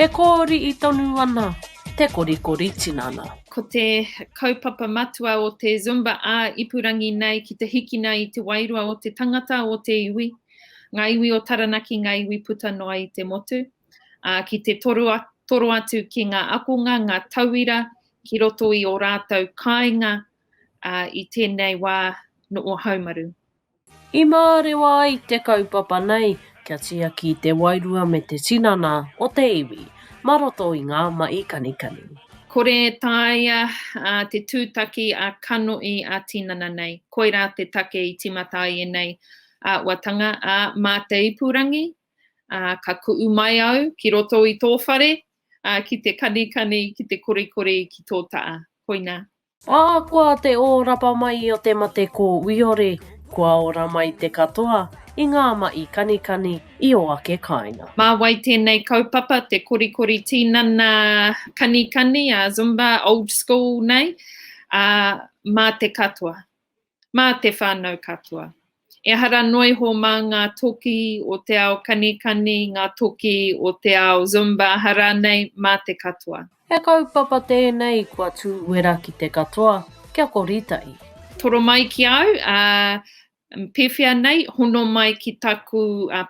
E kōriʻi tonu ana te korikori tinana. Ko te kaupapa matua o te Zumba ā-ipurangi nei ki te hikina i te wairua o te tangata, o te iwi, ngā iwi o Taranaki, ngā iwi puta noa i te motu, ā, ki te toro atu ki ngā akonga, ngā tauira ki roto i ō rātou kāinga ā, i tēnei wā noʻu haumaru. I mārewa ai te kaupapa nei kia tiaki te wairua me te tinana o te iwi mā roto i ngā maʻi kanikani. Kore e taea te tūtaki ā-kanohi, ā-tinana nei. Koirā te take i tīmata ai ēnei āhuatanga, ā, mā te ipurangi, ā, ka kuʻu mai au ki roto i tō whare, ā, ki te kanikani, ki te korikori, ki tō taʻa. Koinā. Ahakoa te ōrapa mai o te mate kōwiore, kua ora mai te katoa i ngā maʻi kanikani i ō ake kāinga. Mā wai tēnei kaupapa, te korikori tīnana kanikani, a Zumba, old school nei, ā, mā te katoa. mā te whānau katoa. Ehara noa iho mā ngā toki o te ao kanikani, ngā toki o te ao Zumba, aha rānei, mā te katoa. He kaupapa tēnei kua tū uera ki te katoa, kia kori tahi. Toro mai ki a au, ā, pēwhea nei, hono mai ki taku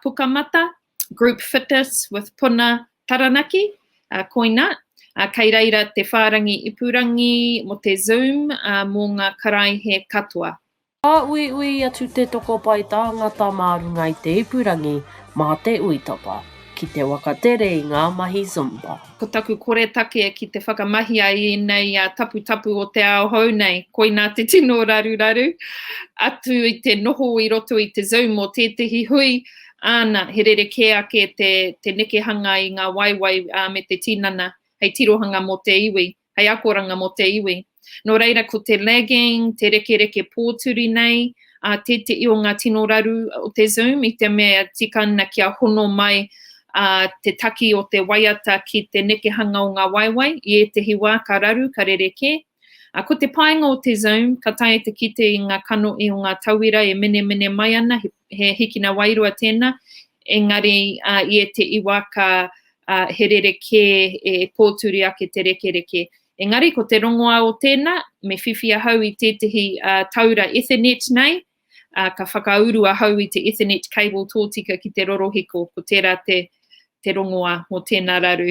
pukamata, Group Fitness with Puna Taranaki, uh, koina, uh, kei reira te whārangi ipurangi mo te Zoom uh, mō ngā karaihe katoa. Ka uiui atu te tokopai tāngata mā runga i te ipurangi mā te uitapa ki te wakatere i ngā mahi Zumba. Ko taku koretake ki te whakamahia i ēnei uh, taputapu o te ao hou nei, koina te tino raruraru atu i te noho i roto i te Zoom o tētehi hui Āna, he rerekē ake te, te nekehanga i ngā waewae ā, me te tinana, hei tirohanga mō te iwi, hei akoranga mō te iwi. Nō reira, ko te lagging, te rekereke pōturi nei, ā, tēteʻi o ngā tino raru o te Zoom, i te mea tika ana kia hono mai ā, te taki o te waiata ki te nekehanga o ngā waewae, i ētehi wā ka raru, ka rerekē, A ko te painga o te Zoom, ka taea te kite i nga kanohi o nga tauira e menemene mai ana, he hikina wairua tena, engari i ete i wa ka he rerekē e pōturi ake te rekereke. Engari ko te rongoa o tena, me whiwhi ahau i tētehi taura Ethernet nei, a ka whakauru ahau i te Ethernet cable tōtika ki te rorohiko, ko tera te rongoa mo tena raru.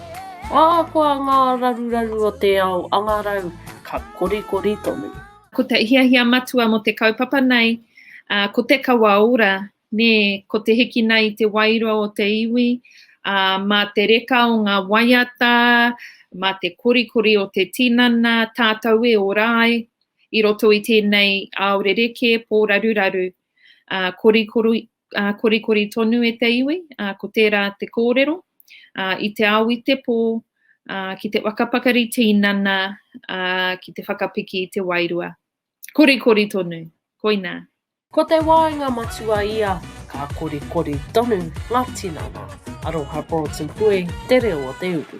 Ahakoa ngā raruraru o te ao angarau, ka korikori tonu. Ko te hiahia matua mō te kaupapa nei, ā, ko te kawa ora, nē, ko te hikina i te wairua o te iwi, ā, mā te reka o ngā waiata, mā te korikori o te tinana, tātou e ora ai i roto i tēnei ao rerekē, pōraruraru. Ā, korikori, ā, korikori tonu e te iwi, ā, ko tērā te kōrero. ā, i te ao i te pō, ā, ki te waka pakari tīnana, ā, ki te whakapiki i te wairua. Korikori tonu. Koinā. Ko te waenga matua ia, ka korikori tonu ngā tinana. Aroha Broughton Pue, Te Reo o te Uru.